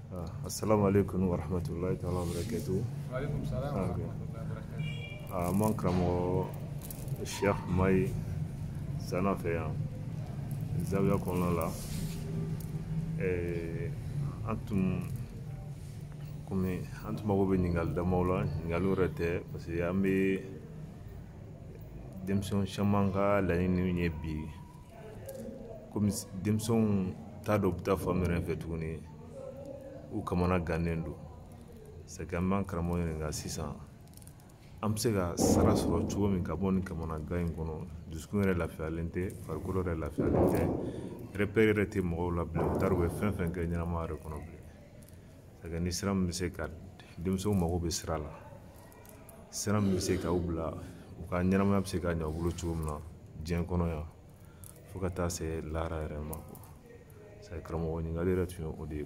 Ah, assalamu alaikum wa rahmatullahi ta'ala wa barakatuh. Wa alaikum salam wa ah, rahmatullahi wa barakatuh. An b'an karamɔgɔ Cheikh Mayi Sana fɛ yan zawiya kɔnɔna la eh, an tun komi an tun mago bɛ ɲininkali damaw la ɲininkali yɛrɛ tɛ parce que an bɛ denmisɛnw caman ka laɲini ye bi komi denmisɛnw t'a dɔn u bɛ taa fan min yɛrɛ fɛ tuguni u kamanagannen don c'est que an b'an karamɔgɔ ɲininka sisan an bɛ se ka sira sɔrɔ cogo min ka bɔ nin kamanagan in kɔnɔ dusukun yɛrɛ lafiyalen tɛ farikolo yɛrɛ lafiyalen tɛ rɛpɛri yɛrɛ tɛ mɔgɔw la bilen u t'a dɔn u bɛ fɛn fɛn kɛ ɲɛnamaya yɛrɛ kɔnɔ bilen c'est que ni sira min bɛ se ka denmisɛnw mago bɛ sira la sira min bɛ se k'u bila u ka ɲɛnamaya bɛ se ka ɲɛ u bolo cogo min na diɲɛ kɔnɔ yan fo ka taa se lahara yɛrɛ ma karamɔgɔ ɲininkali yɛrɛ tun ye o de ye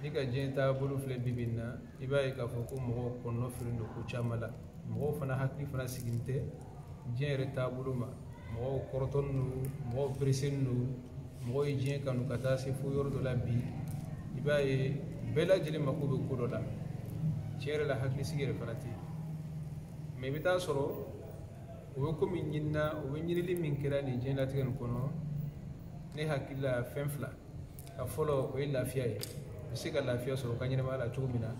n'i ka diɲɛ taabolo filɛ bi bi in na i b'a ye k'a fɔ ko mɔgɔw kɔnɔnafililen don ko caman la mɔgɔw fana hakili fana sigilen tɛ diɲɛ yɛrɛ taabolo ma mɔgɔw kɔrɔtɔlen don mɔgɔw pereselen don mɔgɔw ye diɲɛ kanu ka taa se fo yɔrɔ dɔ la bi i b'a ye bɛɛ lajɛlen mako bɛ ko dɔ la tiɲɛ yɛrɛ la hakilisigi yɛrɛ fana tɛ yen mɛ i bɛ taa sɔrɔ u bɛ ko min ɲini na u bɛ ɲinili min kɛ la nin diɲɛlatigɛ nin kɔnɔ ne hakili la fɛn fila a fɔlɔ o ye lafiya ye u bɛ se ka lafiya sɔrɔ u ka ɲɛnamaya la cogo min na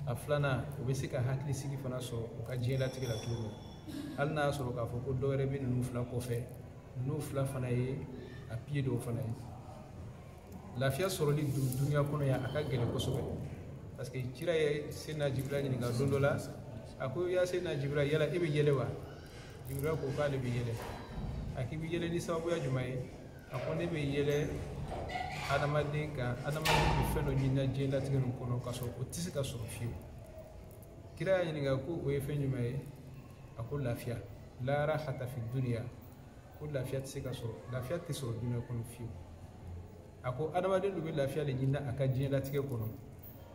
a filanan u bɛ se ka hakilisigi fana sɔrɔ u ka diɲɛlatigɛ la cogo min na hali n'a y'a sɔrɔ k'a fɔ ko dɔ wɛrɛ bɛ ninnu fila kɔfɛ ninnu fila fana ye a piye dɔw fana ye lafiya sɔrɔli dunuya kɔnɔ yan a ka gɛlɛn kosɛbɛ parce que kira ye seyidina jibirili ɲininka don dɔ la a ko ya seyidina jibirili yala e bɛ yɛlɛ wa jibirili ko k'ale bɛ yɛlɛ a k'i bɛ yɛlɛ ni sababuya jumɛn ye a ko ne bɛ yɛlɛ adamaden kan adamaden bɛ fɛn dɔ ɲini na diɲɛlatigɛ nin kɔnɔ k'a sɔrɔ o tɛ se ka sɔrɔ fiyewu kira y'a ɲininka ko o ye fɛn jumɛn ye a ko lafiya la rahata fi duniya ko lafiya tɛ se ka sɔrɔ lafiya tɛ sɔrɔ duniya kɔnɔ fiyewu a ko adamaden dun bɛ lafiya de ɲini na a ka diɲɛlatigɛ kɔnɔ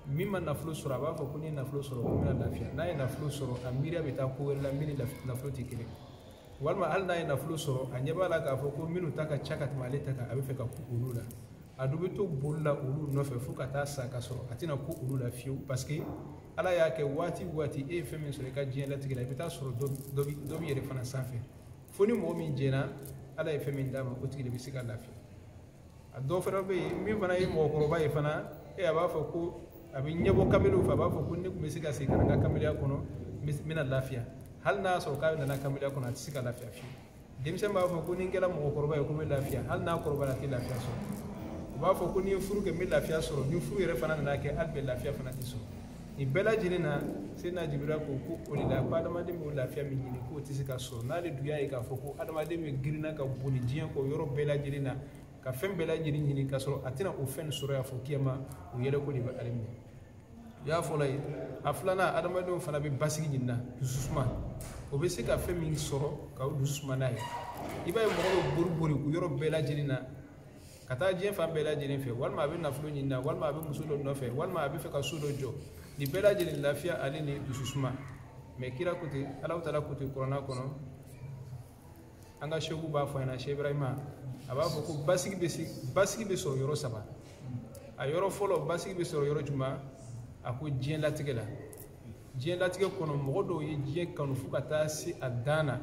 min ma nafolo sɔrɔ a b'a fɔ ko ne ye nafolo sɔrɔ ko n bɛna lafiya n'a ye nafolo sɔrɔ a miiriya bɛ taa ko wɛrɛ la min ni nafolo tɛ kelen walima hali n'a ye nafolo sɔrɔ a ɲɛ b'a la k'a fɔ ko minnu ta ka ca ka tɛmɛ ale ta kan a b'a fɛ ka kun olu la a dun bɛ to boli la olu nɔfɛ fo ka taa sa k'a sɔrɔ a tɛna kun olu la fiyewu parce que ala y'a kɛ waati o waati e ye fɛn min sɔrɔ i ka diɲɛlatigɛ la i bɛ taa sɔrɔ dɔ b'i yɛrɛ fana sanfɛ fo ni mɔgɔ min jɛnna ala ye fɛn min d'a ma o tigi de bɛ se ka lafiya a dɔw fana bɛ yen min fana ye mɔgɔkɔrɔba ye fana e a b'a fɔ ko a bɛ ɲɛbɔ kamalenw fɛ a b'a fɔ ko ne tun bɛ se ka segin ka na n ka kamaleya kɔnɔ n bɛna lafiya hali n'a y'a sɔrɔ k'a nana kamaleya kɔnɔ a tɛ se ka lafiya fiyewu denmisɛn b'a fɔ ko ni n kɛra mɔgɔkɔrɔba ye ko n bɛ lafiya hali n'a kɔrɔbaya a tɛ lafiya sɔrɔ u b'a fɔ ko ni n ye furu kɛ n bɛ lafiya sɔrɔ ni furu yɛrɛ fana nana kɛ hali bi lafiya fana tɛ sɔrɔ nin bɛɛ lajɛlen na sena jibiril ko ko o de la ko adamaden b'o lafiya min ɲini k'o tɛ se ka sɔrɔ n'ale dun y'a ye k'a fɔ ko adamaden bɛ girin na ka boli diɲɛ kɔ yɔrɔ bɛɛ lajɛlen na ka fɛn bɛɛ lajɛlen ɲini k'a sɔrɔ a tɛna o fɛn sɔrɔ yan fo kiyama o yɛlɛko de bɛ ale minɛ o y'a fɔlɔ ye a filanan adamadenw fana bɛ basigi ɲini na dususuma o bɛ se ka fɛn min sɔrɔ ka o dusu suma n'a ye i b'a ye mɔgɔ bɛ bori bori o yɔrɔ bɛɛ lajɛlen na ka taa diɲɛ fan bɛɛ lajɛlen fɛ walima a bɛ nafolo ɲini na walima a bɛ muso dɔ nɔfɛ walima a bɛ fɛ ka so dɔ jɔ nin bɛɛ lajɛlen lafiya ale ni dusu suma mɛ kira ko ten alaw taala ko ten kuranna kɔnɔ an ka sɛku b'a fɔ an ɲɛna sɛ ibrahima a b'a fɔ ko basigi bɛ se basigi bɛ sɔrɔ yɔrɔ saba a yɔrɔ fɔlɔ basigi bɛ sɔrɔ yɔrɔ jumɛn a ko diɲɛ latigɛ la diɲɛlatigɛ kɔnɔ mɔgɔ dɔw ye diɲɛ kanu fo ka taa se a dan na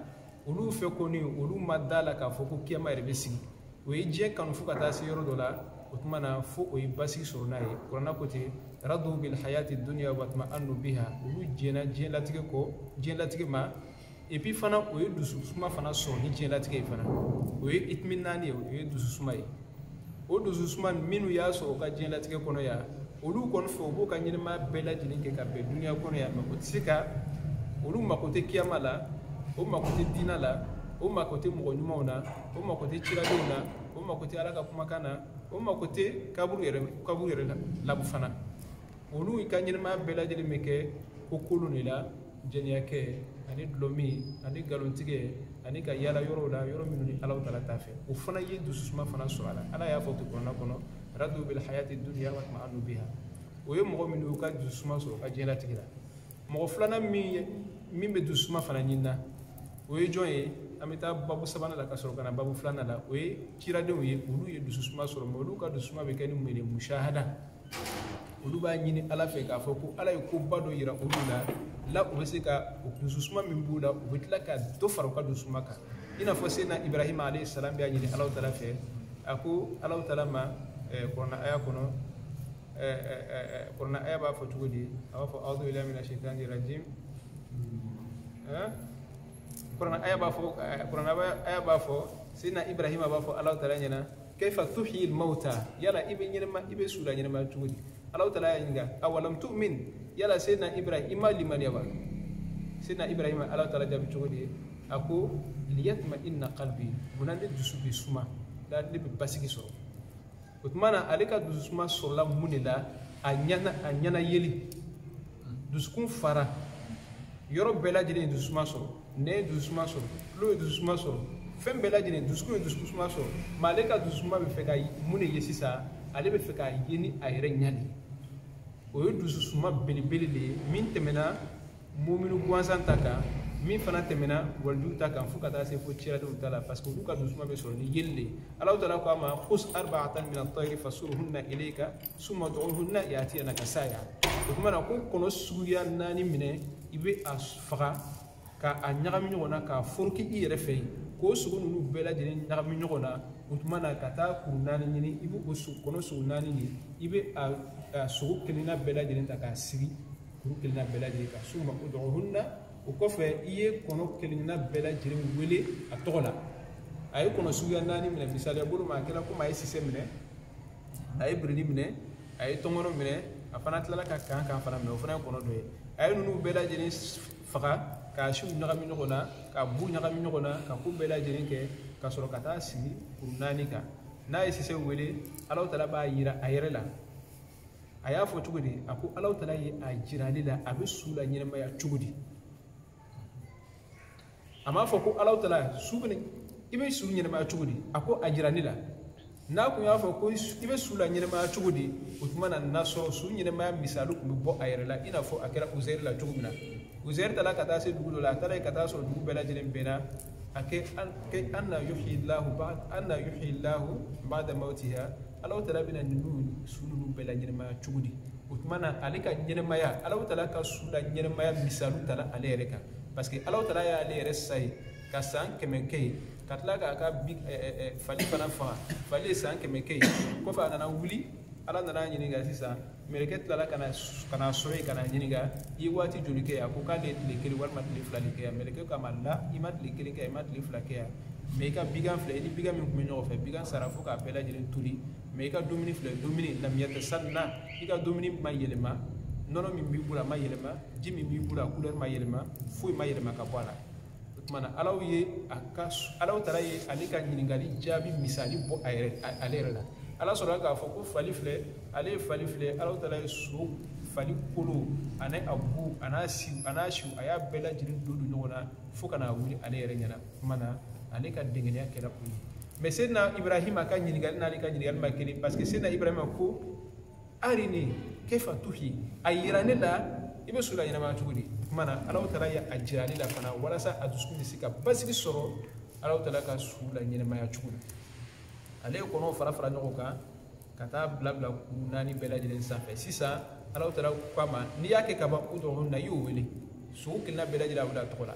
olu fɛ kɔni olu ma da la k'a fɔ ko kiyama yɛrɛ bɛ sigi o ye diɲɛ kanu fo ka taa se yɔrɔ dɔ la o tuma na fo o ye basigi sɔrɔ n'a ye kuranna ko ten radu bil hayati duniya wa tma'annu biha olu jɛnna diɲɛlatigɛ kɔ diɲɛlatigɛ ma epi fana o ye dususuma fana sɔrɔ ni diɲɛlatigɛ ye fana o ye itiminaani ye o ye dususuma ye o dususuma minnu y'a sɔrɔ u ka diɲɛlatigɛ kɔnɔ yan olu kɔni fɛ u b'u ka ɲɛnɛmaya bɛɛ lajɛlen kɛ ka bɛn duniya kɔnɔ yan mɛ o tɛ se ka olu mako tɛ kiyama la o mako tɛ diina la o mako tɛ mɔgɔ ɲumanw na o mako tɛ ciradenw na o mako tɛ ala ka kumakan na o mako tɛ kaburu yɛrɛ kaburu yɛrɛ la labu fana olu ka ɲɛnɛmaya bɛɛ lajɛlen bɛ kɛ ko kolon de la jɛniyakɛ ani dɔlɔmin ani nkalontigɛ ani ka yaala yɔrɔw la yɔrɔ minnu ni alaw tala t'a fɛ o fana ye dususuma fana sɔrɔ a la ala y'a fɔ kuranna kɔnɔ radu bil hayati dunya wa tma'annu biha o ye mɔgɔ min y'u ka dususuma sɔrɔ u ka diɲɛlatigɛ la mɔgɔ filanan min ye min bɛ dususuma fana ɲini na o ye jɔn ye an bɛ taa babu sabanan la ka sɔrɔ ka na babu filanan la o ye ciradenw ye olu ye dususuma sɔrɔ mɛ olu ka dususuma bɛ kɛ ni mun ye musahada olu b'a ɲini ala fɛ k'a fɔ ko ala ye koba dɔ yira olu la la u bɛ se ka o dususuma min b'u la u bɛ tila ka dɔ fara u ka dususuma kan i n'a fɔ sedina ibrahima alayhi salam b'a ɲini alaw tala fɛ a ko alaw tala ma kuranna aya kɔnɔ kuranna aya b'a fɔ cogo di a b'a fɔ awudu bilahi mina shaitani rajim kuranna aya b'a fɔ kuranna aya b'a fɔ sedina ibrahima b'a fɔ alaw tala ɲɛna kaifa tuhyi mauta yala i bɛ ɲɛnɛma i bɛ su la ɲɛnɛma cogo di ala taala y'a ɲininka awalam tu'min yala seyidina ibrahim i ma limaniya wa seyidina ibrahima ala taala jaabi cogo di ye a ko liyatma inna qalbi munna ne dusu bɛ suma la ne bɛ basigi sɔrɔ o tuma na ale ka dususuma sɔrɔla mun de la a ɲana a ɲana yeli dusukun fara yɔrɔ bɛɛ lajɛlen ye dususuma sɔrɔ ɲɛ ye dususuma sɔrɔ tulo ye dususuma sɔrɔ fɛn bɛɛ lajɛlen dusukun ye dususuma sɔrɔ mɛ ale ka dususuma bɛ fɛ ka mun de ye sisan ale bɛ fɛ k'a ye ni a yɛrɛ ɲɛ de o ye dususuma belebele de ye min tɛmɛna muminu gansan ta kan min fana tɛmɛna walijuw ta kan fo ka taa se fo cidenw ta la parce que olu ka dususuma bɛ sɔrɔ ni yeli de ye alahu taala ko a ma kus arbaatan min atayiri fasuruhunna ilayka summa udu'uhunna yatinaka saaya o tuma na ko kɔnɔ suguya naani minɛ i bɛ a faga ka a ɲagami ɲɔgɔn na k'a foroki i yɛrɛ fɛ yen k'o sogo ninnu bɛɛ lajɛlen ɲagami ɲɔgɔn na o tuma na ka taa kuru naani ɲini i bɛ o kɔnɔ sogo naani ɲini i bɛ a sogo kelenna bɛɛ lajɛlen ta k'a sigi kuru kelenna bɛɛ lajɛlen kan summa udu'uhunna o kɔfɛ i ye kɔnɔ kelenna bɛɛ lajɛlen wele a tɔgɔ la a ye kɔnɔ suguya naani minɛ misaliya bolo ma a kɛra komi a ye sise minɛ a ye biridi minɛ a ye tɔnkɔnɔ minɛ a fana tilala ka kankan fana minɛ o fana ye kɔnɔ dɔ ye a ye ninnu bɛɛ lajɛlen faga k'a siw ɲagami ɲɔgɔn na k'a bu ɲagami ɲɔgɔn na ka ko bɛɛ lajɛlen kɛ ka sɔrɔ ka taa sigi kuru naani kan n'a ye sise wele alahu taala b'a yira a yɛrɛ la a y'a fɔ cogo di a ko alahu taala ye a jira ne la a bɛ su la ɲɛnɛmaya cogo di a m'a fɔ ko alahu taala su bɛ i bɛ su ɲɛnɛmaya cogo di a ko a jira ne la n'a tun y'a fɔ ko i bɛ su la ɲɛnɛmaya cogo di o tuma na n'a sɔrɔ su ɲɛnɛmaya misali tun bɛ bɔ a yɛrɛ la i n'a fɔ a kɛra uzɛri la cogo min na uzɛri taara ka taa se dugu dɔ la a taara yen ka taa sɔrɔ dugu bɛɛ lajɛlen binna a ko ko anna yuhyi lahu anna yuhyi lahu baada mawtiha alahu taala bɛna ninnu su ninnu bɛɛ la ɲɛnɛmaya cogo di o tuma na ale ka ɲɛnɛmaya alahu taala ka su la ɲɛnɛmaya misali tala ale yɛrɛ kan parce que ala taala y'ale yɛrɛ sa yen ka san kɛmɛ kɛ yen ka tila k'a ka fali fana faga fali ye san kɛmɛ kɛ yen kɔfɛ a nana wuli ala nana a ɲininka sisan mɛrɛkɛ tilala ka n'a sɔrɔ yen ka n'a ɲininka i ye waati joli kɛ yan ko k'ale ye tile kelen walima tile fila de kɛ yan mɛrɛkɛ k'a ma la i ma tile kelen kɛ yan i ma tile fila kɛ yan mɛ i ka bigan filɛ i ni bigan min tun bɛ ɲɔgɔn fɛ bigan sara fo k'a bɛɛ lajɛlen toli mɛ i ka dumuni filɛ dumuni lam yatasanna i ka dumuni ma yɛlɛma nɔnɔ min b'i bolo a ma yɛlɛma ji min b'i bolo a kulɛri ma yɛlɛma foyi ma yɛlɛma ka bɔ a la o tuma na alahu ye a ka alahu taala ye ale ka ɲininkali jaabi misali bɔ a yɛrɛ ale yɛrɛ la ala sɔrɔla k'a fɔ ko fali filɛ ale ye fali filɛ alahu taala ye so fali kolo ani a bu an'a siw an'a siw a y'a bɛɛ lajɛlen don don ɲɔgɔn na fo ka n'a wuli ale yɛrɛ ɲɛna tuma na ale ka dengenya kɛra u ye mɛ sedina ibrahima ka ɲininkali n'ale ka ɲininkali ma kelen parce que sedina ibrahima ko arini kefa tuhi a yira ne la i bɛ su la ɲɛnamaya cogo di tuma na alaw taala ye a jira ale la fana walasa a dusukun bɛ se ka basigi sɔrɔ alaw taala ka su la ɲɛnamaya cogo la ale ye kɔnɔw fara fara ɲɔgɔn kan ka taa bila bila kuru naani bɛɛ lajɛlen sanfɛ sisan alaw taala k'a ma n'i y'a kɛ ka ban u tɔgɔninw na i y'o wele sogo kelenna bɛɛ lajɛlen a wele a tɔgɔ la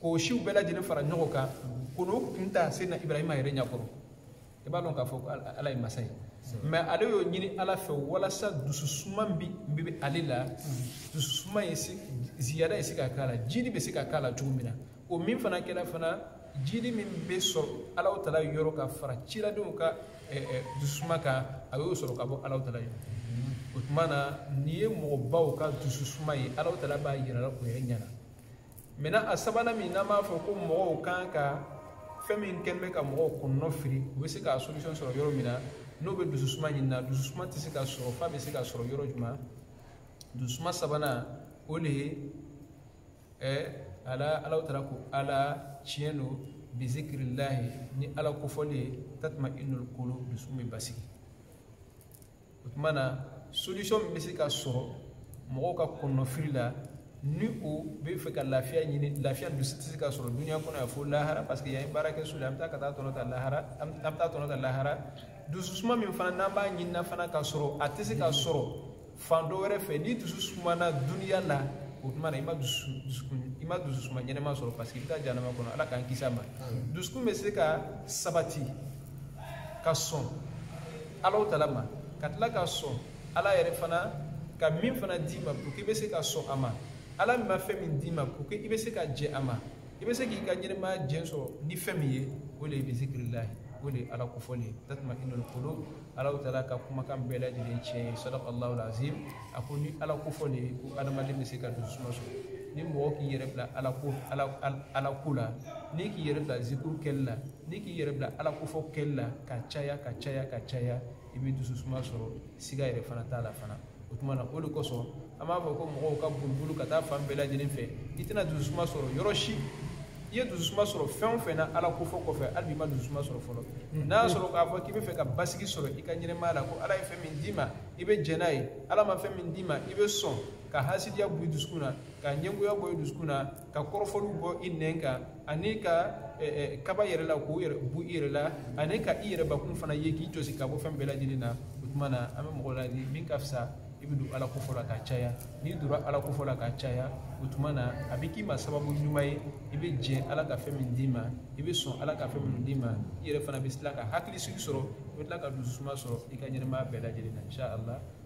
k'o siw bɛɛ lajɛlen fara ɲɔgɔn kan ko n'o kun ta se na ibrahima yɛrɛ ɲɛkɔrɔ i b'a dɔn k'a fɔ ko ala ye masa ye mɛ ale y'o ɲini ala fɛ walasa dususuma bi bɛ ale la dususuma ye ziyada ye se ka k'a la jidi bɛ se ka k'a la cogo min na o min fana kɛra fana jidi min bɛ sɔrɔ alaw tala yɔrɔ ka fara ciradenw ka dususuma kan a y'o sɔrɔ ka bɔ alaw tala yɔrɔ o tuma na nin ye mɔgɔbaw ka dususuma ye alaw tala b'a yira o yɛrɛ ɲɛna maintenant a sabanan min n'an b'a fɔ ko mɔgɔw kan ka fɛn min kɛ n'i bɛ ka mɔgɔw kɔnɔnɔ firi u bɛ se k'a solution sɔrɔ yɔrɔ min na n'o bɛ dususuma ɲinina dususuma tɛ se ka sɔrɔ f'a bɛ se ka sɔrɔ yɔrɔ jumɛn dususuma sabanan o de ye ɛ ala alaw taala ko ala tiɲɛ don bizikirilahi ni ala kofɔli ye tatuma inul kolo dusu bɛ basigi o tuma na solution min bɛ se ka sɔrɔ mɔgɔw ka kɔnɔnafili la ni o bɛ fɛ ka lafiya ɲini lafiya dun tɛ se ka sɔrɔ dunuya kɔnɔ yan fo lahara parce que yan ye baarakɛso la an bɛ taa ka taa tɔnɔ ta lahara an bɛ taa tɔnɔ ta lahara dususuma min fana n'an b'a ɲinina fana ka sɔrɔ a tɛ se ka sɔrɔ fan dɔ wɛrɛ fɛ ni dusu sumana dunuya la o tuma na i ma dusu dusukun i ma dususuma ɲɛnama sɔrɔ parce que i bɛ taa jahanama kɔnɔ ala k'an kisi a ma dusukun bɛ se ka sabati ka sɔn alaw tala ma ka tila ka sɔn ala yɛrɛ fana ka min fana d'i ma pour que i bɛ se ka sɔn a ma ala min ma fɛn min d'i ma pour que i bɛ se ka jɛn a ma i bɛ se k'i ka ɲɛnɛmaya jɛ sɔrɔ ni fɛn min ye o de ye bizikirilahi o de ye ala kofɔli ye tatuma inul kolo alaw taala ka kumakan bɛɛ lajɛlen tiɲɛ ye sadaka allahu lazim a ko ni ala kofɔli ye ko adamaden bɛ se ka dususuma sɔrɔ ni mɔgɔ k'i yɛrɛ bila ala ko ala ala ko la n'i k'i yɛrɛ bila zikuru kɛli la n'i k'i yɛrɛ bila ala kofɔ kɛli la ka caya ka caya ka caya i bɛ dususuma sɔrɔ siga yɛrɛ fana t'a la fana o tuma na o de kosɔn an b'a fɔ ko mɔgɔw ka bolibolo ka taa fan bɛɛ lajɛlen fɛ i tɛna dususuma sɔrɔ yɔrɔ si i ye dusuma sɔrɔ fɛn o fɛn na ala kofɔ kɔfɛ hali bi i ma dususuma sɔrɔ fɔlɔ n'a y'a sɔrɔ k'a fɔ k'i bɛ fɛ ka basigi sɔrɔ i ka ɲɛnɛmaya la ko ala ye fɛn min d'i ma i bɛ jɛn n'a ye ala ma fɛn min d'i ma i bɛ sɔn ka hasidiya bɔ i dusukun na ka ɲɛngoya bɔ i dusukun na ka kɔrɔfɔliw bɔ i nɛn kan ani ka eh, eh, kaba yɛrɛ la k'o yɛrɛ bɔ i yɛrɛ la ani ka i yɛrɛbakun fana ye k'i jɔsi ka bɔ fɛn bɛɛ lajɛlen na o tuma na an bɛ mɔgɔ ladi min ka fisa i bɛ don ala kofɔ la ka caya n'i donna ala kofɔ la ka caya o tuma na a bɛ k'i ma sababu ɲuman ye i bɛ jɛn ala ka fɛn min d'i ma i bɛ sɔn ala ka fɛn minnu d'i ma i yɛrɛ fana bɛ tila ka hakilisigi sɔrɔ i bɛ tila ka dususuma sɔrɔ i ka ɲɛnamaya bɛɛ lajɛlen na inshallah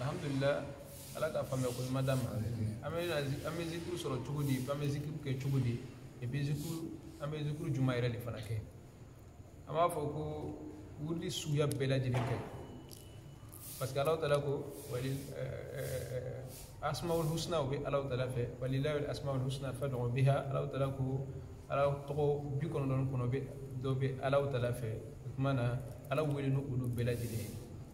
alhamdulilah ala ka faamuya ko ɲuman d'an ma an bɛ an bɛ zikuru sɔrɔ cogo di an bɛ zikuru kɛ cogo di epi zikuru an bɛ zikuru jumɛn yɛrɛ de fana kɛ an b'a fɔ ko wurudi suguya bɛɛ lajɛlen kɛ parce que alahu tala ko wali asmaul husna u bɛ alahu tala fɛ walilahi asmaul husna faduhu biha alahu tala ko ala tɔgɔ bi kɔnɔntɔn kɔnɔntɔn de bɛ alahu tala fɛ o tuma na ala wele ni olu bɛɛ lajɛlen ye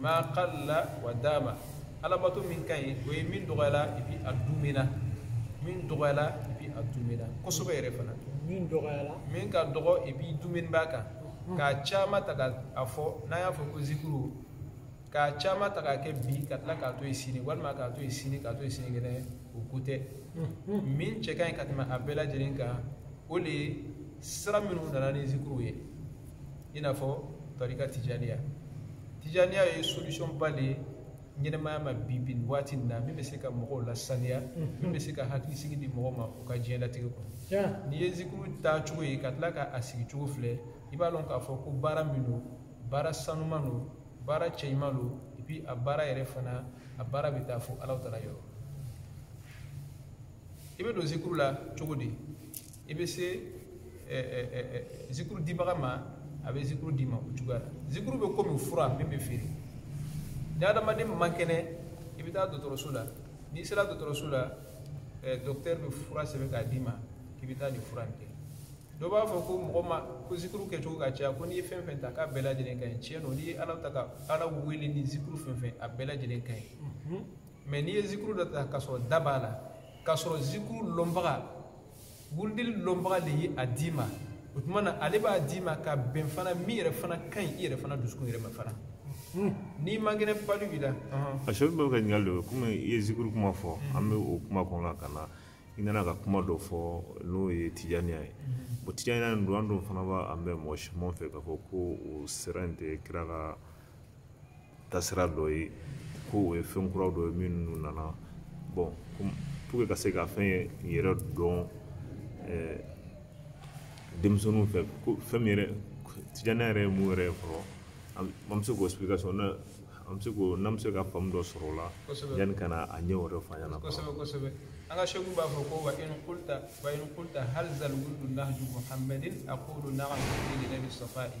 ma qalla wa dama alabato min ka ɲi o ye min dɔgɔyala epi a duumɛna min dɔgɔyala epi a duumɛna kosɛbɛ yɛrɛ fana min dɔgɔyala min ka dɔgɔ epi duumɛni b'a kan k'a caman ta ka a fɔ n'an y'a fɔ ko zikuru k'a caman ta k'a kɛ bi ka tila k'a to yen sini walima k'a to yen sini k'a to yen sinikɛnɛ o ko tɛ min cɛ ka ɲi ka tɛmɛ a bɛɛ lajɛlen kan o de ye sira minnu nana ni zikuru ye i n'a fɔ tarika tijaniya tijaniya ye solution ba de ye ɲɛnamaya ma bi bi nin waati nin na min bɛ se ka mɔgɔw lasaniya min bɛ se ka hakilisigi di mɔgɔ ma u ka diɲɛlatigɛ kɔnɔ n'i ye zikuru tacogo ye ka tila ka a sigicogo filɛ i b'a dɔn k'a fɔ ko baara min don baara sanuman don baara cɛɲuman don epi a baara yɛrɛ fana a baara bɛ taa fo alahu tala yɔrɔ i bɛ don zikuru la cogo di i bɛ se zikuru dibaga ma a bɛ zikuru d'i ma o cogoya la zikuru bɛ komi fura min bɛ feere ni adamaden man kɛnɛ i bɛ taa dɔgɔtɔrɔso la n'i sera dɔgɔtɔrɔso la dɔkitɛri bɛ fura sɛbɛn k'a d'i ma k'i bɛ taa nin fura in kɛ dɔ b'a fɔ ko mɔgɔ ma ko zikuru kɛcogo ka ca ko n'i ye fɛn fɛn ta k'a bɛɛ lajɛlen ka ɲi tiɲɛ don n'i ye ala ta ka ala wele ni zikuru fɛn fɛn a bɛɛ lajɛlen ka ɲi mɛ n'i ye zikuru dɔ ta k'a sɔrɔ da b'a la k'a sɔrɔ zikuru lɔnbaga wurudili lɔnbaga de ye a d'i ma o tuma na ale b'a d'i ma ka bɛn fana min yɛrɛ fana ka ɲi i yɛrɛ fana dusukun yɛrɛ ma fana n'i man kɛnɛ palu b'i la a sɛbɛn bɛ ka ɲininkali dɔ komi i ye zikuru kuma fɔ an bɛ o kuma kɔnɔ la ka na i nana ka kuma dɔ fɔ n'o ye tijaniya ye bon tijaniya nin don an dun fana b'a mɛn mɔgɔ siyaman fɛ k'a fɔ ko o sira in tɛ kira ka tasira dɔ ye ko o ye fɛn kuraw dɔ ye minnu nana bon pour ka se ka fɛn yɛrɛ dɔn eh, denmisɛnninw fɛ ko fɛn min yɛrɛ tijaniya yɛrɛ ye mun yɛrɛ ye fɔlɔ an bɛ se k'o explication na an bɛ se k'o n'an bɛ se ka faamu dɔ sɔrɔ o la yanni ka na a ɲɛ wɛrɛ fɔ an ɲɛna kosɛbɛ kosɛbɛ an ka seku b'a fɔ ko wa in kulta wa in kulta hal zal wirdu nahju muhammadin aqulu na'am li nayli safa'i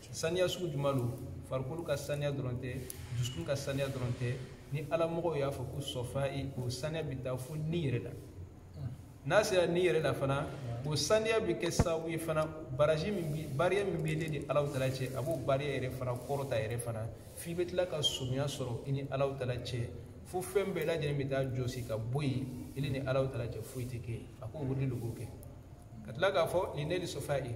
saniya sugu jumɛn don farikolo ka saniya dɔrɔn tɛ dusukun ka saniya dɔrɔn tɛ ni ala mɔgɔw y'a fɔ ko safa'i o saniya bɛ taa fo ni yɛrɛ la n'a sera ni yɛrɛ la fana o saniya bɛ kɛ sababu ye fana barrage min bi barrière min bɛ ne ni alahu taala cɛ a b'o barrière yɛrɛ fana kɔrɔta yɛrɛ fana f'i bɛ tila ka surunya sɔrɔ i ni alahu taala cɛ fo fɛn bɛɛ lajɛlen bɛ taa jɔsi ka bɔ yen i ni alahu taala cɛ foyi tɛ kɛ yen a ko wurudi de b'o kɛ ka tila k'a fɔ li nayli safa'i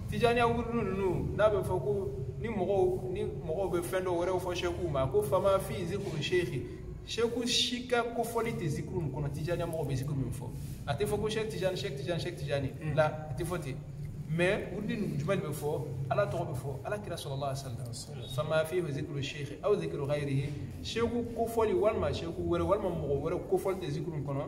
tijaniya wurudi ninnu n'a bɛ fɔ ko ni mɔgɔw ni mɔgɔw bɛ fɛn dɔw wɛrɛw fɔ sɛkuw ma ko fama fi zikuru seeki sɛku si ka kofɔli tɛ zikuru min kɔnɔ tijaniya mɔgɔw bɛ zikuru min fɔ a tɛ fɔ ko sɛk tijani sɛk tijani sɛk tijani mm. la a tɛ fɔ ten mais wurudi ninnu jumɛn de bɛ fɔ ala tɔgɔ bɛ fɔ ala kira salalahu alayhi wasalam fama fi zikuru seeki aw zikuru gayirihi sɛku kofɔli walima sɛku wɛrɛ walima mɔgɔ wɛrɛ kofɔli tɛ zikuru min kɔnɔ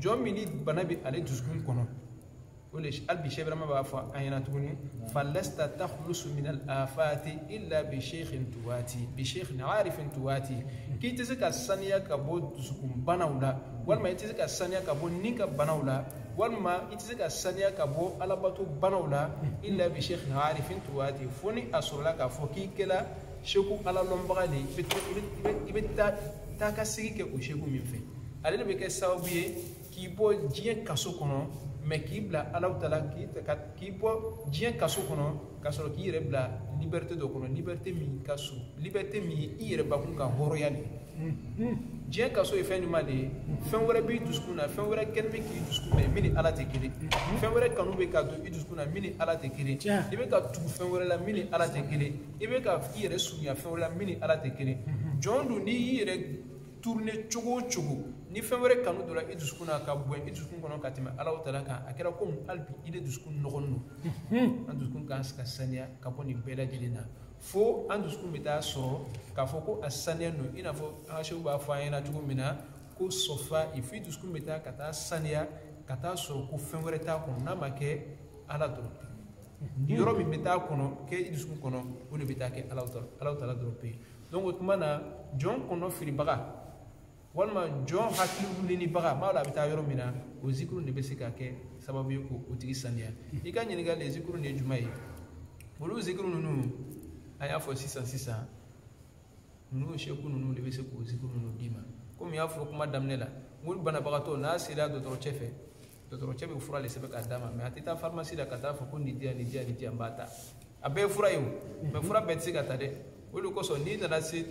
jɔn min ni bana bɛ ale dusukun kɔnɔ o de hali bi sɛk birama b'a fɔ an ɲɛna tuguni falasta takhlusu min al afati illa bi sheikhin tuwati bi sheikhin arifin tuwati k'i tɛ se ka saniya ka bɔ dusukun banaw la walima i tɛ se ka saniya ka bɔ ni ka banaw la walima i tɛ se ka saniya ka bɔ alabato banaw la illa bi sheikhin arifin tuwati fo ni a sɔrɔla k'a fɔ k'i kɛla seku ala lɔnbaga de i bɛ taa ka sigi kɛ o seku min fɛ ale de bɛ kɛ sababu ye k'i bɔ diɲɛ kaso kɔnɔ mais k'i bila alahu taala k'i bɔ diɲɛ kaso kɔnɔ ka sɔrɔ k'i yɛrɛ bila liberté dɔ kɔnɔ liberté min ka surun liberté min ye i yɛrɛ bakun ka hɔrɔnya de diɲɛ kaso ye fɛn jumɛn de ye fɛn wɛrɛ b'i dusukun na fɛn wɛrɛ kanu bɛ k'i dusukun na min ni ala tɛ kelen fɛn wɛrɛ kanu bɛ ka don i dusukun na min ni ala tɛ kelen i bɛ ka tugu fɛn wɛrɛ la min ni ala tɛ kelen i bɛ ka i yɛrɛ surunya fɛn wɛrɛ la min ni ala tɛ kelen jɔn don n'i y'i yɛrɛ tourner cogo o cogo ni fɛn wɛrɛ kanu donna i dusukun na ka bon i dusukun kɔnɔ ka tɛmɛ alahu taala kan a kɛra komi hali bi i de dusukun nɔgɔlen don hmm. an dusukun kan ka saniya ka bɔ nin bɛɛ lajɛlen na fo an dusukun bɛ taa sɔrɔ k'a fɔ ko a saniya don i n'a fɔ an ka seku b'a fɔ an ɲɛna cogo min na ko safa'i f'i dusukun bɛ taa ka taa saniya ka taa sɔrɔ ko fɛn wɛrɛ t'a kɔnɔ n'a ma kɛ ala dɔrɔn yɔrɔ min bɛ taa kɔnɔ kɛ i dusukun kɔnɔ o de bɛ taa kɛ allahu taala allahu taala dɔrɔn pe donc o tuma na jɔn kɔnɔfiribaga walima jɔn hakili wulinibaga m'a dɔn a bɛ taa yɔrɔ min na o zikuru de bɛ se ka kɛ sababu ye k'o tigi saniya i ka ɲininkali zikuru de ye jumɛn ye olu zikuru ninnu an y'a fɔ sisan sisan ninnu seku ninnu de bɛ se k'o zikuru ninnu d'i ma komi n y'a fɔ kuma daminɛ la n ko banabagatɔ n'a sera dɔgɔtɔrɔcɛ fɛ dɔgɔtɔrɔcɛ bɛ fura de sɛbɛn k'a d'a ma mɛ a tɛ taa farimasi la ka taa fɔ ko nin di yan nin di yan nin di yan n b'a ta a bɛɛ ye fura ye o mɛ fura bɛɛ tɛ se ka ta dɛ o de kosɔn n'i nana se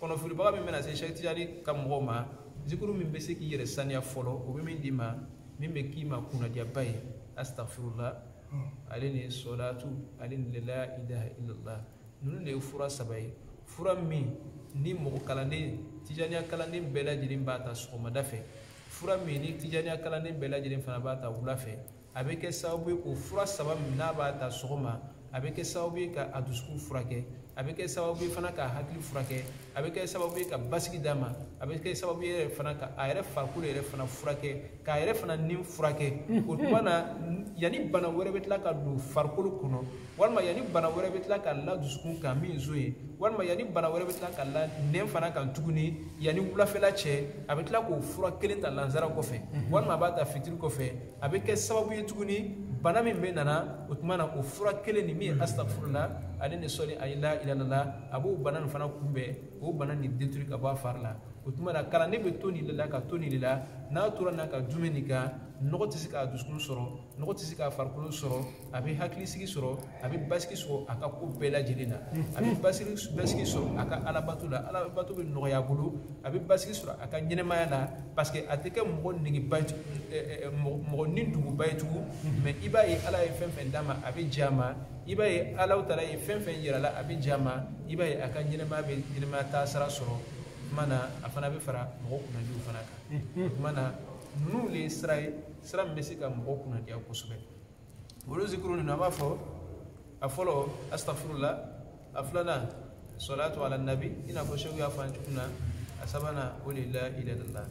kɔnɔfilibaga min bɛna se seku tijani ka mɔgɔw ma zikuru min bɛ se k'i yɛrɛ saniya fɔlɔ o bɛ min d'i ma min bɛ k'i ma kunnadiyaba ye asitafurula ale ni sɔlatu ale ni la ilaha illallah ninnu de ye fura saba ye fura min ni mɔgɔ kalanden tijaniya kalanden bɛɛ lajɛlen b'a ta sɔgɔmada fɛ fura min ni tijaniya kalanden bɛɛ lajɛlen fana b'a ta wula fɛ a bɛ kɛ sababu ye k'o fura saba min n'a b'a ta sɔgɔma a bɛ kɛ sababu ye ka a dusukun furakɛ a bɛ kɛ sababu ye fana ka a hakili furakɛ a bɛ kɛ sababu ye ka basigi d'a ma a bɛ kɛ sababu ye yɛrɛ fana ka a yɛrɛ farikolo yɛrɛ fana furakɛ k'a yɛrɛ fana ni furakɛ o tuma na yanni bana wɛrɛ bɛ tila ka don farikolo kɔnɔ walima yanni bana wɛrɛ bɛ tila ka la dusukun kan min nson ye walima yanni bana wɛrɛ bɛ tila ka la ni fana kan tuguni yanni wulafɛla cɛ a bɛ tila k'o fura kelen ta lansara kɔfɛ mhm. walima a b'a ta fitiri kɔfɛ a bɛ kɛ sababu ye tuguni bana min bɛna na o tuma na o fura kelen nin min ye asitafurula ale ni sɔli ani la ilalala a b'o bana nin fana kunbɛn o bana nin détruire ka bɔ a fari la o tuma na kalanden bɛ to nin de la ka to nin de la n'a tora n'a ka dumuni nin kan nɔgɔ tɛ se k'a dusukun sɔrɔ nɔgɔ tɛ se k'a farikolo sɔrɔ a bɛ hakilisigi sɔrɔ a bɛ basigi sɔrɔ a ka ko bɛɛ lajɛlen na a bɛ basigi basigi sɔrɔ a ka alabato la alabato bɛ nɔgɔya a bolo a bɛ basigi sɔrɔ a ka ɲɛnɛmaya la parce que a tɛ kɛ mɔgɔ negeba ye mɔgɔ niduguba ye tugun mɛ i b'a ye ala ye fɛn fɛn d'a ma a bɛ jɛn a ma i b'a ye allahu taala ye fɛn fɛn yira a la a bɛ jɛn a ma i b'a ye a ka ɲɛnɛmaya bɛ ɲɛnɛmaya taasira sɔrɔ o tuma na a fana bɛ fara mɔgɔ kunnadiw fana kan o tuma na ninnu de ye sira ye sira min bɛ se ka mɔgɔ kunnadiya kosɛbɛ olu zikuru ninnu an b'a fɔ a fɔlɔ asitafurula a filanan sɔlatu ala nabi i n'a fɔ seku y'a fɔ an cogo min na a sabanan o de la ilalala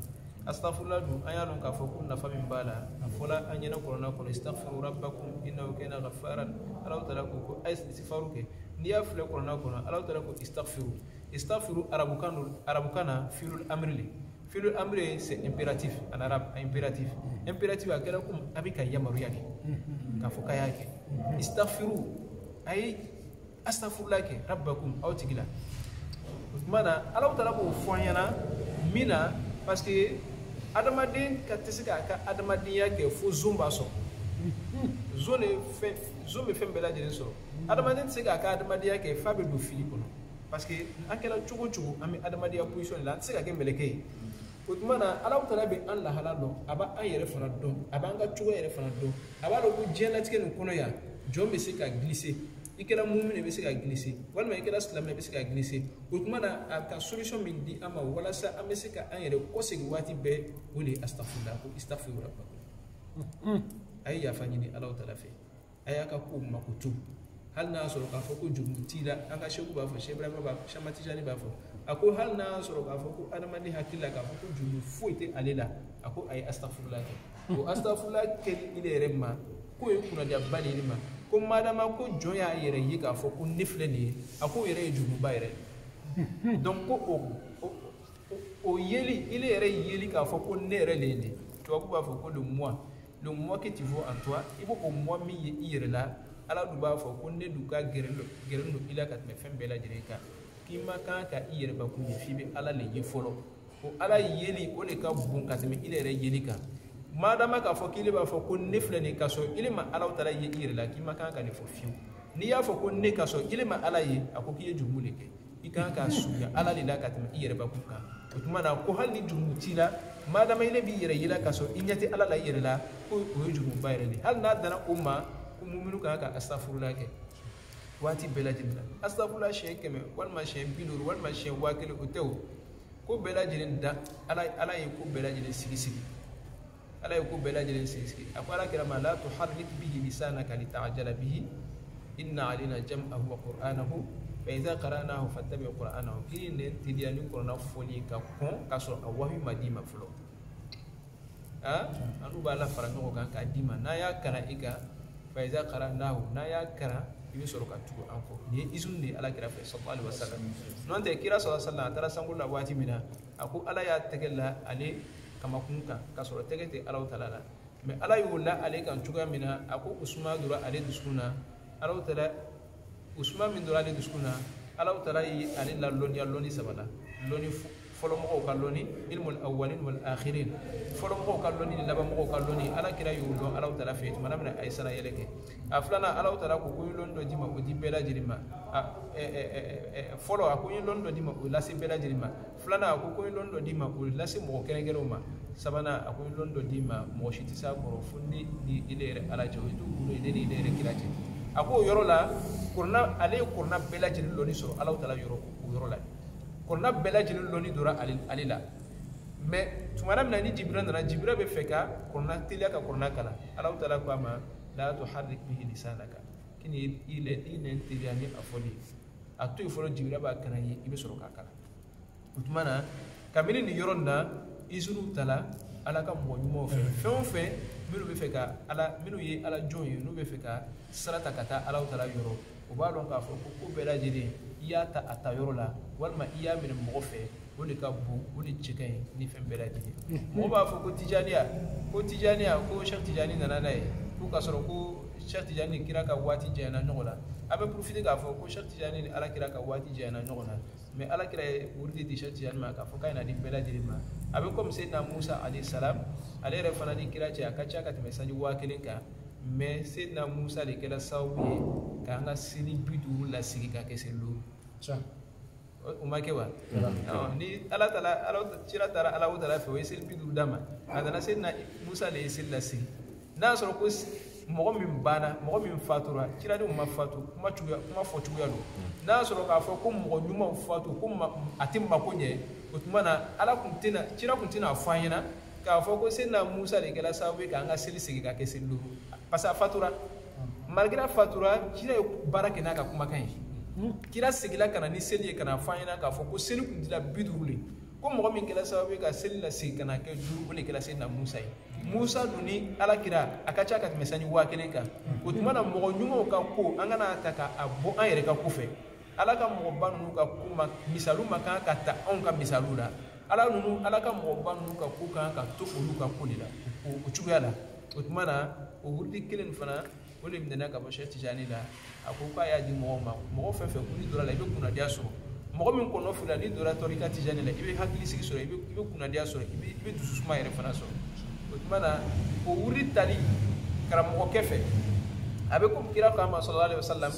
asitafurula dun an y'a dɔn k'a fɔ ko nafa min b'a la a fɔla an ɲɛ na kurana kɔnɔ isitafuru rabbakum innahu kana ghafaran allahu taala ko ko a ye isitifaru kɛ n'i y'a filɛ kurana kɔnɔ allahu taala ko isitafuru isitafuru arabukan don arabukan na fiilul amiri le fi'lu amr c'est impératif en arabe impératif impératif a kɛra comme a bɛ ka yamaruya di k'a fɔ k'a y'a kɛ istaghfiru a ye astafurula kɛ rabbakum aw tigi la o tuma na alaw taala k'o fɔ an ɲɛna min na parce que adamaden tɛ se k'a ka adamadenya kɛ fo zon b'a sɔrɔ zon de fɛn zon bɛ fɛn bɛɛ lajɛlen sɔrɔ adamaden tɛ se k'a ka adamadenya kɛ f'a bɛ don fili kɔnɔ parce que an kɛra cogo cogo an bɛ adamadenya position de la an tɛ se ka kɛ mɛlɛkɛ ye o tuma na ala taala bɛ an lahala dɔn a b'a an yɛrɛ fana dɔn a b'an ka cogo yɛrɛ fana dɔn a b'a dɔn ko diɲɛlatigɛ nin kɔnɔ yan jɔn bɛ se ka glisser i kɛra mumini i bɛ se ka glisser walima i kɛra silamɛ i bɛ se ka glisser o tuma na a ka solution min di an ma walasa an bɛ se ka an yɛrɛ kɔsegin waati bɛɛ o de ye asitafurula ko isitafurula a ye yafa ɲini ala taala fɛ a y'a ka kow makoto hali n'a y'a sɔrɔ k'a fɔ ko jurumu t'i la an ka sɛku b'a fɔ sɛk ibrahima b'a fɔ sɛk ahmad tijani b'a fɔ a ko hali n'a y'a sɔrɔ k'a fɔ ko adamaden hakili la k'a fɔ ko jurumu foyi tɛ ale la a ko a ye asitafurula kɛ o asitafurula kɛli i yɛrɛ ma k'o ye kunnadiyaba de ye i ma ko madama ko jɔn y'a yɛrɛ ye k'a fɔ ko ne filɛ nin ye a k'o yɛrɛ ye jurumuba yɛrɛ donc ko o o yeli ile yɛrɛ yeli k'a fɔ ko ne yɛrɛ le ye nin tubabu b'a fɔ ko le moi le moi que tu vois en toi i b'o o moi min ye i yɛrɛ la ala dun b'a fɔ ko ne dun ka gɛrɛn don gɛrɛn don i la ka tɛmɛ fɛn bɛɛ lajɛlen kan k'i ma kan ka i yɛrɛbakun ye f'i bɛ ala le ye fɔlɔ ko ala yeli o de ka bon ka tɛmɛ i yɛrɛ yeli kan madama k'a fɔ k'ile b'a fɔ ko ne filɛ nin ka sɔrɔ ile ma alaw taala ye i yɛrɛ la k'i ma kan ka ne fɔ fiyewu n'i y'a fɔ ko ne ka sɔrɔ ile ma ala ye a ko k'i ye jurumu de kɛ i kan ka surunya ala de la ka tɛmɛ i yɛrɛbakun kan o tuma na ko hali ni jurumu t'i la madama ile b'i yɛrɛ yela k'a sɔrɔ i ɲɛ tɛ ala la i yɛrɛ la ko o ye jurumuba yɛrɛ de hali n'a dana o ma ko muminu kan ka astafurula kɛ waati bɛɛ lajɛlen na astafurula siɲɛ kɛmɛ walima siɲɛ bi duuru walima siɲɛ waa kelen o tɛ o ko bɛɛ lajɛlen da ala ye ko bɛɛ lajɛlen sigi sigi ala ye ko bɛɛ lajɛlen sigi a ko ala kira ma la tuharrik bihi lisanaka litajala bihi inna alaina jam'ahu wa qur'anahu fa idha qara'nahu fattabi qur'anahu kan'i nɛn teliya ni kurana fɔli ka kɔn k'a sɔrɔ a wahi ma d'i ma fɔlɔ annu b'a lafara ɲɔgɔn kan k'a d'i ma n'an y'a kalan i kan fa idha qara'nahu n'an y'a kalan i bɛ sɔrɔ ka tugu an kɔ nin ye izun de ye ala kira fɛ sallallahu alaihi wasallam n'o tɛ kira sallallahu alaihi wasallam a taara sankolo la waati min na a ko ala y'a tɛgɛ la ale kamankun kan k'a sɔrɔ tɛgɛ tɛ alaw tala la mais ala y'o la ale kan cogoya min na a ko o suma donna ale dusukun na alaw tala o suma min donna ale dusukun na alaw tala ye ale lalɔnniya lɔnni saba la lɔnni fɔlɔmɔgɔw ka lɔnni ilmul awwalin wal akhirin fɔlɔmɔgɔw ka lɔnni ni labanmɔgɔw ka lɔnni ala kira y'o dɔn alaw tala fɛ tuma min na a ye sanna yɛlɛ kɛ a filanan alaw tala ko ko n ye lɔnni dɔ d'i ma o di bɛɛ lajɛlen ma fɔlɔ a ko n ye lɔnni dɔ d'i ma o lase bɛɛ lajɛlen ma filanan a ko ko ye lɔni dɔ d'i ma k'o lase mɔgɔ kɛrɛnkɛrɛnw ma sabanan a ko ye lɔni dɔ d'i ma mɔgɔ si tɛ s'a kɔrɔ fo ne ni ne yɛrɛ ala cɛ o ye dugu ne ni ne yɛrɛ kira cɛ a ko o yɔrɔ la kurana ale ye kurana bɛɛ lajɛlen lɔni sɔrɔ ala taala yɔrɔ o yɔrɔ la kurana bɛɛ lajɛlen lɔni dɔra ale la mɛ tuma min na ni jibiril nana jibiril bɛ fɛ ka kurana teliya ka kurana kalan ala taala ko a ma la tuharik bihi lisanaka k'i kana i nɛn teliya ni a fɔli a to yen fɔlɔ jibiril b'a kalan i ye i bɛ sɔrɔ k'a kalan o tuma na kabini nin yɔrɔ nin na izini tala ala ka mɔgɔ ɲumanw fɛ fɛn o fɛn minnu bɛ fɛ ka ala minnu ye ala jɔn ye n'u bɛ fɛ ka sira ta ka taa ala taala yɔrɔ u b'a dɔn k'a fɔ ko ko bɛɛ lajɛlen i y'a ta a ta yɔrɔ la walima i y'a minɛ mɔgɔ fɛ o de ka bon o de cɛ ka ɲi ni fɛn bɛɛ lajɛlen mɔgɔ b'a fɔ ko tijaniya ko tijaniya ko sɛ tijani nana n'a ye ko k'a sɔrɔ ko sɛ tijani ni kira ka waati janyana ɲɔgɔn na an bɛ profiter k'a fɔ ko sɛ tijani ni ala kira ka waati janyana ɲɔgɔn na mɛ ala kira ye wurudi di sɛ tijani ma k'a fɔ k'a na di bɛɛ lajɛlen ma a bɛ komi seyidina musa alayhi salam ale yɛrɛ fana ni kira cɛ a ka ca ka tɛmɛ sanji waa kelen kan mɛ seyidina musa de kɛra sababu ye k'an ka seli bi duuru lasigi ka kɛ seli duuru o ma kɛ wa ni ala taara ala kira taara ala taala fɛ o ye seli bi duuru d'a ma a nana seyidina musa de ye seli lasigi n'a sɔrɔ ko mɔgɔ min banna mɔgɔ min fatura kira dun ma fatu kuma cogoya kuma fɔ cogoya don n'a sɔrɔ k'a fɔ ko mɔgɔ ɲumanw fatu ko a tɛ mako ɲɛ o tuma na ala kun tɛna kira kun tɛna fɔ an ɲɛna k'a fɔ ko seyidina musa de kɛra sababu ye k'an ka seli segin ka kɛ seli duuru parce que a fatura malgré a fatura kira ye baara kɛ n'a ka kumakan ye kira seginna ka na ni seli ye ka na fɔ an ɲɛna k'a fɔ ko seli kun dira bi duuru de ko mɔgɔ min kɛra sababu ye ka seli lasegin ka na kɛ duuru o de kɛra seyidina musa ye musa dun ni ala kira a ka ca ka tɛmɛ sanji waa kelen kan o tuma na mɔgɔ ɲumanw ka ko an kana a ta ka a bɔ an yɛrɛ ka ko fɛ ala ka mɔgɔba ninnu ka ko ma misaliw ma kan ka ta anw ka misaliw la ala ninnu ala ka mɔgɔba ninnu ka ko kan ka to olu ka ko de la o cogoya la o tuma na o wurudi kelen fana o de minɛna ka bɔ sɛ tijani la a ko k'a y'a di mɔgɔw ma mɔgɔ fɛn o fɛn ko n'i donna a la i bɛ kunnadiya sɔrɔ mɔgɔ min kɔnɔ filila n'i donna tarika tijani la i bɛ hakili sigi sɔrɔ i bɛ i bɛ kunnadiya sɔrɔ i bɛ i bɛ dusu suma yɛrɛ fana sɔrɔ o tuma na o wurudi tali karamɔgɔkɛ fɛ a bɛ komi kira k'an ma salalahu alayhi wasalam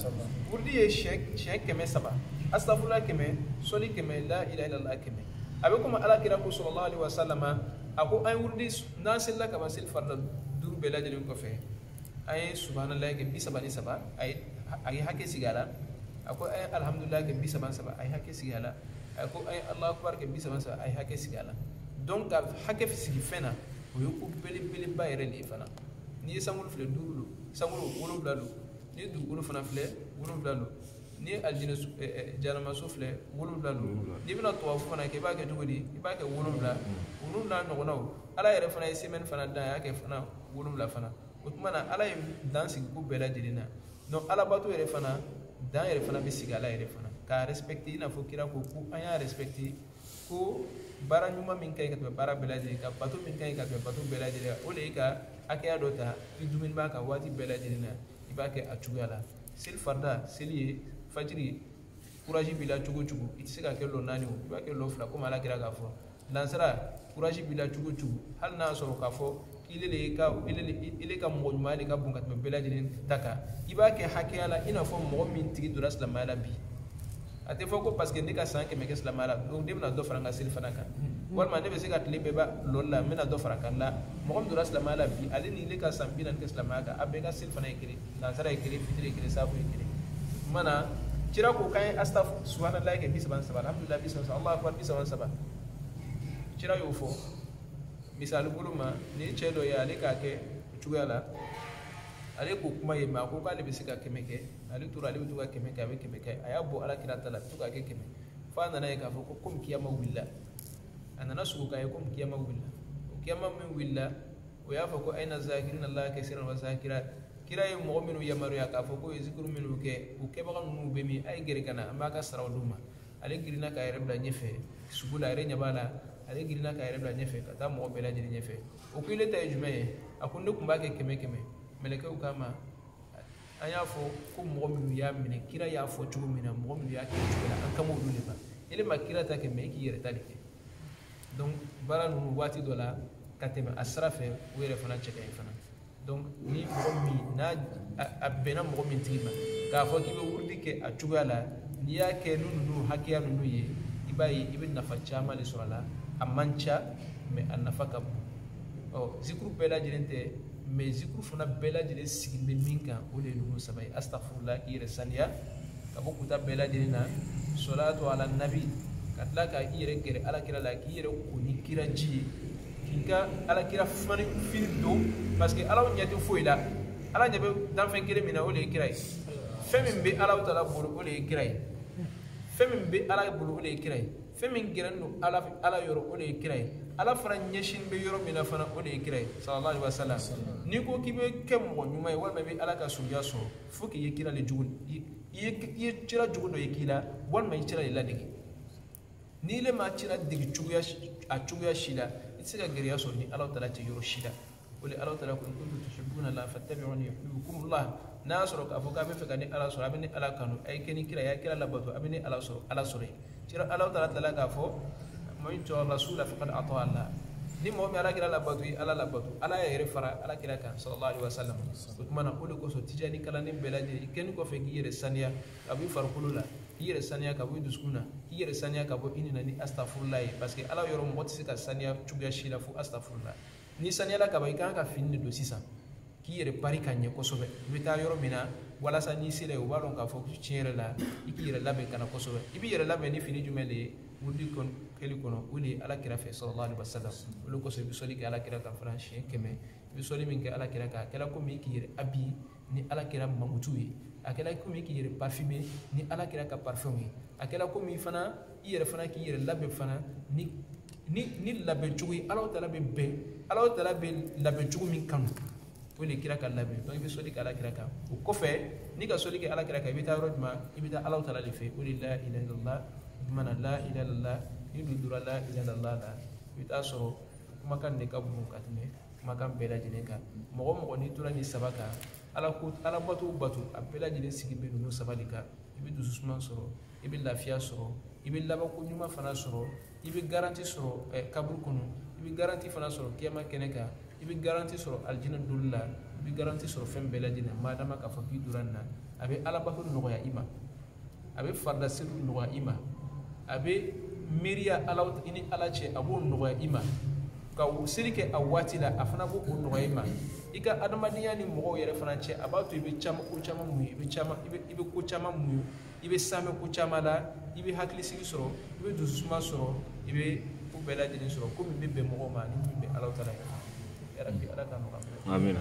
wurudi ye siɲɛ siɲɛ kɛmɛ saba astafurula kɛmɛ sɔli kɛmɛ la ilaha ilala kɛmɛ a bɛ komi ala kira ko salalahu alayhi wasalam a ko an ye wurudi n'an selila ka ban seli farida duuru bɛɛ lajɛlen kɔfɛ a ye subahanallahi kɛ bi saba ni saba a ye a ye hakɛ sigi a la a ko a ye alihamudulilayi kɛ bi saba ni saba a ye hakɛ sigi a la a ko a ye alahu akibari kɛ bi saba ni saba a ye hakɛ sigi a la donc ka hakɛ sigi fɛn na o ye ko belebeleba yɛrɛ de ye fana n'i ye sankolo filɛ duuru don sankolo wolonwula don n'i ye dugukolo fana filɛ wolonwula don n'i ye alijinɛ jahanamaso filɛ wolonwula don n'i bɛna tawafu fana kɛ i b'a kɛ cogo di i b'a kɛ wolonwula wolonwula ɲɔgɔnnaw ala yɛrɛ fana ye semaine fana dan a y'a kɛ fana wolonwula fana o tuma na ala ye dan sigi ko bɛɛ lajɛlen na donc alabato yɛrɛ fana dan yɛrɛ fana bɛ sigi ala yɛrɛ fana k'a respecte i n'a fɔ kira ko ko an y'a respecte ko baara ɲuman min ka ɲi ka tɛmɛ baara bɛɛ lajɛlen ka bato min ka ɲi ka tɛmɛ bato bɛɛ lajɛlen o de ye ka hakɛya dɔ ta i duumɛnen b'a kan waati bɛɛ lajɛlen na i b'a kɛ a cogoya la seli farida seli ye fajiri kurazi b'i la cogo o cogo i tɛ se k'a kɛ lɔ naani o i b'a kɛ lɔ fila komi ala kira k'a fɔ lansara kuraji b'i la cogo cogo hali n'a sɔrɔ k'a fɔ ile le ka ile le ile ka mɔgɔ ɲuman de ka bon ka tɛmɛ bɛɛ lajɛlen ta kan i b'a kɛ hakɛya la i n'a fɔ mɔgɔ min tigi donna silamɛya la bi a tɛ fɔ ko parce que ne ka san kɛmɛ kɛ silamɛya la donc ne bɛna dɔ fara n ka selifana kan walima ne bɛ se ka tile bɛɛ ban lɔli la n bɛna dɔ fara a kan la mɔgɔ min donna silamɛya la bi ale ni ne ka san bi naani kɛ silamɛya kan an bɛɛ ka selifana ye kelen lansara ye kelen fitiri ye kelen saafo ye kelen tuma na kira ko k'an ye astafu subahanallahi kɛ bi saba ni saba alhamdulilayi bi saba ni saba alahu akubar bi saba ni saba kira y'o fɔ misali bolo ma ni cɛ dɔ ye ale k'a kɛ o cogoya la ale k'o kuma ye mɛ a ko k'ale bɛ se ka kɛmɛ kɛ ale tora ale bɛ to ka kɛmɛ kɛ a bɛ kɛmɛ kɛ a y'a bɔ ala kira ta la a bɛ to k'a kɛ kɛmɛ fo a nana a ye k'a fɔ ko komi kiyama wulila a nana sugo k'a ye komi kiyama wulila o kiyama min wulila o y'a fɔ ko ayina zakirina la kasira wa zakira kira ye mɔgɔ minnu yamaruya k'a fɔ k'u ye zikuru minnu kɛ u kɛbaga ninnu bɛ min a ye gɛrɛ ka na an b'u ka saraw d'u ma ale girinna k'a yɛrɛ bila ɲɛfɛ sugo la a yɛrɛ ɲɛ b'a la ale girinna k'a yɛrɛ bila ɲɛfɛ ka taa mɔgɔ bɛɛ lajɛlen ɲɛfɛ o ko ile ta ye jumɛn ye a ko ne tun b'a kɛ kɛmɛ kɛmɛ mɛlɛkɛw k'a ma an y'a fɔ ko mɔgɔ minnu y'a minɛ kira y'a fɔ cogo min na mɔgɔ minnu y'a kɛ o cogo la an kan b'olu de ma ile ma kira ta kɛ mɛ i k'i yɛrɛ ta de kɛ donc baara ninnu waati dɔ la ka tɛmɛ a sira fɛ o yɛrɛ fana cɛ ka ɲi fana donc ni mɔgɔ min n'a a bɛnna mɔgɔ min tigi ma k'a fɔ k'i bɛ wurudi kɛ a cogoya la n'i y'a kɛ ni ninnu hakɛya ninnu ye i b'a ye i bɛ nafa caman de sɔrɔ a la a man ca mɛ a nafa ka bon ɔ zikuru bɛɛ lajɛlen tɛ mɛ zikuru fana bɛɛ lajɛlen sigilen bɛ min kan o de ye ninnu saba ye asitafurula k'i yɛrɛ saniya ka bɔ kuta bɛɛ lajɛlen na sɔlatu ala nabi ka tila ka i yɛrɛ gɛrɛ alakira la k'i yɛrɛ ko ni kira ji ye k'i ka alakira fani fini don parce que ala ɲɛ tɛ foyi la ala ɲɛ bɛ danfɛn kelen min na o de ye kira ye fɛn min bɛ ala taala bolo o de ye kira ye fɛn min bɛ ala bolo o de ye kira ye fɛn min gɛrɛlen don ala ala yɔrɔ o de ye kira ye ala fana ɲɛsin bɛ yɔrɔ min na fana o de ye kira ye sallallahu alaihi wasallam n'i ko k'i bɛ kɛ mɔgɔ ɲuman ye walima i bɛ ala ka suguya sɔrɔ fo k'i ye kira de jogo i ye kira jogo dɔ ye k'i la walima i kira de ladege n'i le ma kira ladege cogoya a cogoya si la i tɛ se ka gɛrɛya sɔrɔ ni ala taala cɛ yɔrɔ si la o le ala taala ko in kuntum tuhibbuna la fattabi'uni yuhbibkumullah n'a y'a sɔrɔ k'a fɔ k'a b'a fɛ ka ne ala sɔrɔ a bɛ ne ala kanu a ye kɛ ni kira ye a ye kira labato a bɛ ne ala sɔrɔ ala sɔrɔ yen kira ala taala tilala k'a fɔ man yuti rasula faqad ata allah ni mɔgɔ min alakira labato i ala labato ala y'a yɛrɛ fara alakira kan sallallahu alaihi wasallam o tuma na o de kosɔn tijani kalanden bɛɛ lajɛlen i kɛlen kɔfɛ k'i yɛrɛ saniya ka bɔ i farikolo la k'i yɛrɛ saniya ka bɔ i dusukun na k'i yɛrɛ saniya ka bɔ i ni na ni astafurula ye parce que ala yɔrɔ mɔgɔ tɛ se ka saniya cogoya si la fo astafurula n'i saniyala ka ban i kan ka fini de don sisan k'i yɛrɛ pari ka ɲɛ kosɛbɛ i bɛ taa yɔrɔ min na walasa n'i sera yen u b'a dɔn k'a fɔ tiɲɛ yɛrɛ la i k'i yɛrɛ labɛn ka na kosɛbɛ i b'i yɛrɛ labɛn ni fini jumɛn de ye wurudi kɛli kɔnɔ o de ye ala kira ye sallallahu alaihi wasallam o le kosɔn i bɛ sɔli kɛ ala kira kan fana siɲɛ kɛmɛ i bɛ sɔli min kɛ ala kira kan a kɛra komi k'i yɛrɛ habiller ni ala kira mankutu ye a kɛra komi k'i yɛrɛ parfumer ni ala kira ka parfum ye a kɛra komi fana i yɛrɛ fana k'i yɛrɛ labɛn fana ni ni ni labɛn cogo ye ala taala bɛ bɛn ala taala bɛ labɛn cogo min kanu o de kira ka labɛn donc i bɛ sɔli kɛ ala kira kan o kɔfɛ n'i ka sɔli kɛ ala kira kan i bɛ taa yɔrɔ jumɛn i bɛ taa ala taala de fɛ o de la ilaha illallah jumɛn la ilaha illallah n'i dun donna la ilaha illallah la i bɛ t'a sɔrɔ kumakan de ka bon ka tɛmɛ kumakan bɛɛ lajɛlen kan mɔgɔ mɔgɔ n'i tora nin saba kan ala ko ala bato bato a bɛɛ lajɛlen sigi bɛ ninnu saba de kan i bɛ dusu suma sɔrɔ i bɛ lafiya sɔrɔ i bɛ labanko ɲuman fana sɔrɔ i bɛ garanti sɔrɔ ɛ eh, kaburu kɔnɔ i bɛ garanti fana sɔrɔ kiyama kɛnɛ kan i bɛ garanti sɔrɔ alijinɛ donni la i bɛ garanti sɔrɔ fɛn bɛɛ lajɛlen madama k'a fɔ k'i donna nin na a bɛ alabato nɔgɔya i ma a bɛ faridaseliw nɔgɔya i ma a bɛ miiriya ala i ni ala cɛ a b'o nɔgɔya i ma ka seli kɛ a waati la a fana b'o o nɔgɔya i ma i ka adamadenya ni mɔgɔw yɛrɛ fana cɛ a b'a to i bɛ caman ko caman muɲu i bɛ caman i bɛ i bɛ ko caman muɲu i bɛ sanfɛ ko caman la i bɛ hakilisigi sɔrɔ i bɛ dususuma sɔrɔ i bɛ ko bɛɛ lajɛlen sɔrɔ ko min bɛ bɛn mɔgɔw ma ni min bɛ ala taala yɛrɛ bi ala k'a nɔgɔya amina